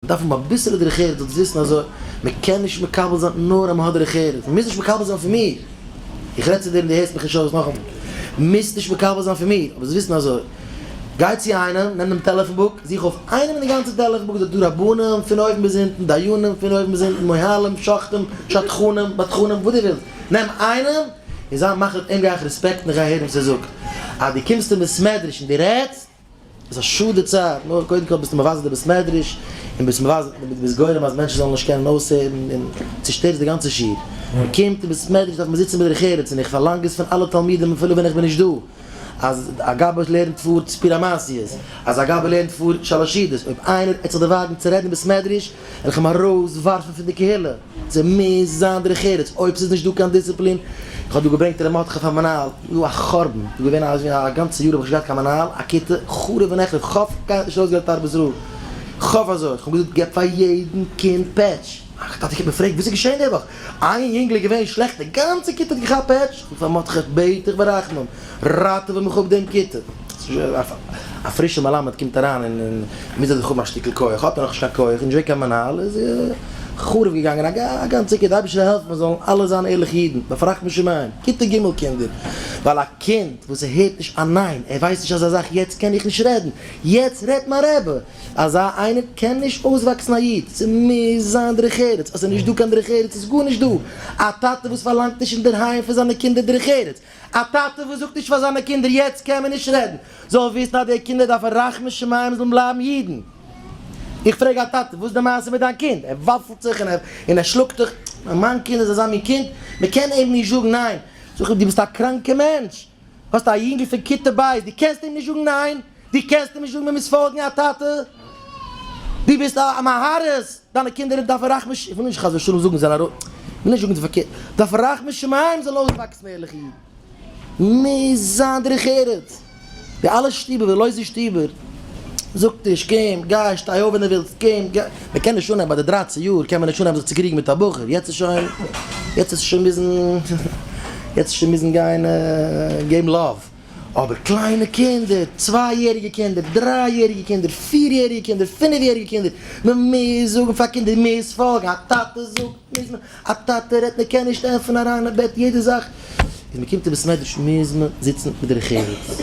דארף מען אביסעלע דרך ארץ, זאלסט וויסן אז מען קען נישט מקבל זיין נאר אז מען האט דרך ארץ, מען מוז נישט מקבל זיין פון מיר, איך רעד צו דיר און דו הערסט מיך נישט אויס נאכאמאל, מוזט נישט מקבל זיין פון מיר, אבער זאלסט וויסן אז, גיי צו איינעם, נעם דעם טעלעפאן בוק, זוך אויף איינעם אין די גאנצע טעלעפאן בוק, ס'איז דא רבנים פון אויבן ביז אונטן, דיינים פון אויבן ביז אונטן, מוהלים, שוחטים, שדכנים, בדחנים, וואס דו ווילסט, נעם איינעם און זיי מחליט, אים גיי איך רעספעקטן, איך גיי הערן וואס ער זאגט, אז דו קומסט אין בית מדרש און דו רעדסט. איז א שאד די צייט, נאר קודם כל ביסטו מבזה די בית מדרש, און ביסט מבזה און ביסט גורם אז מענטשן זאלן נישט קענען אויסהערן, און צושטערסט די גאנצע שיעור. מען קומט אין בית מדרש דארף מען זיצן בדרך ארץ, און איך פארלאנג עס פון אלע תלמידים אפילו ווען איך בין נישט דא, אז א גבאי לערנט פאר סיפורי מעשיות, אז א גבאי לערנט פאר שלש עדות, אויב איינער העט זיך דערוואגן צו רעדן אין בית מדרש, וועל איך אים ארויס ווארפן פון די קהילה. ס'מוז זיין דרך ארץ, אויב ס'איז נישט דא קיין דיסציפלין, איך האב דא געברענגט ר' מרדכי פאר מנהל, דא א חורבן, דא געווען א א גאנצע יאר האב איך נישט געהאט קיין מנהל, א כיתה חרוב ונחרב, ח ו קיינער האט נישט אויסגעלערנט ארבעס רב, ח ו אזוי, כ'האב געזאגט געב פאר יעדן קינד פעטש, א טאטע קומט מיר פרעגט וואס איז געשען די וואך, איין יונגל איז געווען שלעכט די גאנצע כיתה האט געכאפט פעטש? פון פארמאט כ' בעט איך ברחמים ראטעווע מיך אפ דעם כיתה. א פרישע מלמד קומט אריין און מוז ער זיך האבן א שטיקל כח, האט ער נאך נישט קיין כח און נישט געווען קיין מנהל איז חרוב געגאנגען א גאנצע כיתה, אייבערשטער העלף מיר זאלן אלע זיין ערליכע אידן, בפרט משומעים, כיתה ג' קינדער, ווייל א קינד וואס ער הערט נישט א ניין, ער ווייסט נישט אזא זאך יעצט קען איך נישט רעדן, יעצט רעדט מיין רבי, אזא איינער קען נישט אויסוואקסן א איד, ס'מוז זיין דרך ארץ, אז ס'איז נישט דא קיין דרך ארץ איז גארנישט דא, א טאטע וואס פארלאנגט נישט אינדערהיים פון זיינע קינדער דרך ארץ, א טאטע וואס זאגט נישט פאר זיינע קינדער יעצט קען מען נישט רעדן, זאל וויסן אז די קינדער דארפן רחמי שמים זאלן בלייבן אידן. איך פרעג א טאטע וואס די מעשה מיט דיין קינד, ער וואפלט זיך און ער שלאגט זיך, מיין קינד איז אזא מין קינד, מ'קען אים נישט זאגן ניין, זאג איך דו ביסט א קראנקע מענטש, האסט א יונגל פון כיתה ב', דו קענסט אים נישט זאגן ניין, דו קענסט אים נישט זאגן מען מוז פאלגן א טאטע, דו ביסט א מהרס דיינע קינדער דארפן רחמי ש, איך וויל נישט חס ושלום זאגן זיי זענען ארויס, איך וויל נישט זאגן די פארקערט, דארפן רחמי שמים זאלן אויסוואקסן ערליכע אידן, מוז זיין דרך ארץ, די אלע שטובער ווערן לויזע שטובער. זאגט נישט קום גיי שטיי אויף ווען דו ווילסט קום גיי, מען קען נישט אנהייבן ביי די דרייצן יאר קען מען נישט אנהייבן זיך צו קריגן מיט א בחור יעצט איז שוין יעצט איז שוין מוזן יעצט איז שוין מוזן גיין געבן לאוו אבער קליינע קינדער צוויי יעריגע קינדער דריי יעריגע קינדער פיר יעריגע קינדער פינף יעריגע קינדער מען מוז זאגן פאר קינדער מען מוז פאלגן א טאטע זאגט מוז מען א טאטע רעדט מען קען נישט ענפערן אריין אין בעט יעדע זאך איז מען קומט אין בית מדרש מיז מען זיצן מיט דרך ארץ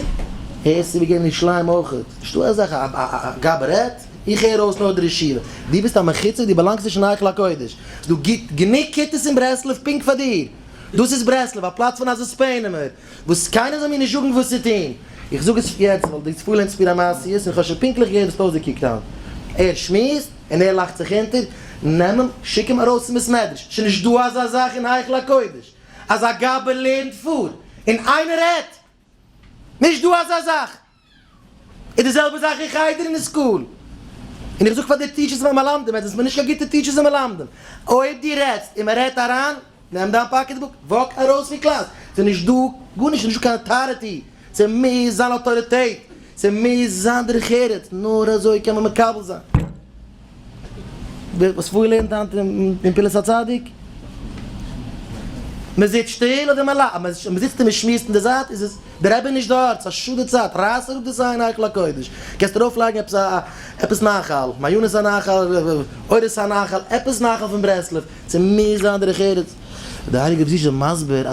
הערסט איבער געבן ירושלים אויכעט נישטא אזאך א גאב ד רעדט איך הער אויס נאר דער ישיבה די ביסט א מחוצף די באלאנגסט נישט אין היכל הקודש ס'דא גוט גענוג כיתות אין ברסלב פונקט פאר דיר דאס איז ברסלב א פלאץ פון א זיספענעמער. וואס קיינער זאל מיר נישט זאגן וואס צו טון, איך זאג עס שוין יעצט ווייל די פולע אינטערוויא איז א מעשיות און איך האב שוין פונקטליך געהערט וואס טויזער קוקט אן, ער שמועסט און ער לאכט זיך אונטער, נעם אים שיק אים ארויס צום בית מדרש, שוין נישט דא אזא זאך אין היכל הקודש אז א גאבע לערנט פאר און איינער רעדט, נישט דא אזא זאך. איז די זעלבע זאך אין חדר און אין סקול. און איך זאג פאר די טיטשערס והמלמדים, עטס זענטס מיר נישט קיין גוטע טיטשערס און מלמדים. אויב דו רעדסט און מען רעדט אריין, נעם דיין פאקעט בוק, וואק ארויס פון קלאס. ס'איז נישט דא גארנישט, ס'איז נישט דא קיין אטאריטי. ס'מוז זיין אטאריטעט, ס'מוז זיין דרך ארץ, נאר אזוי קען מען מקבל זיין. ווער וואס פאר לערנט היינט אין פלס הצדיק? מען זיצט שטיל אדער מען לאכט? מען זיצט און מען שמועסט אין די זייט איז עס די רבי נישט דארט, ס'איז א שאד די צייט, רייס אראפ די סיי אין היכל הקודש, קענסט ארויף לייגן עפעס א עפעס נחל, מעיינות הנחל, אורות הנחל, עפעס נחל פון ברסלב, ס'מוז זיין דרך ארץ, די הייליגע רבי זי ע איז שוין מסביר אז.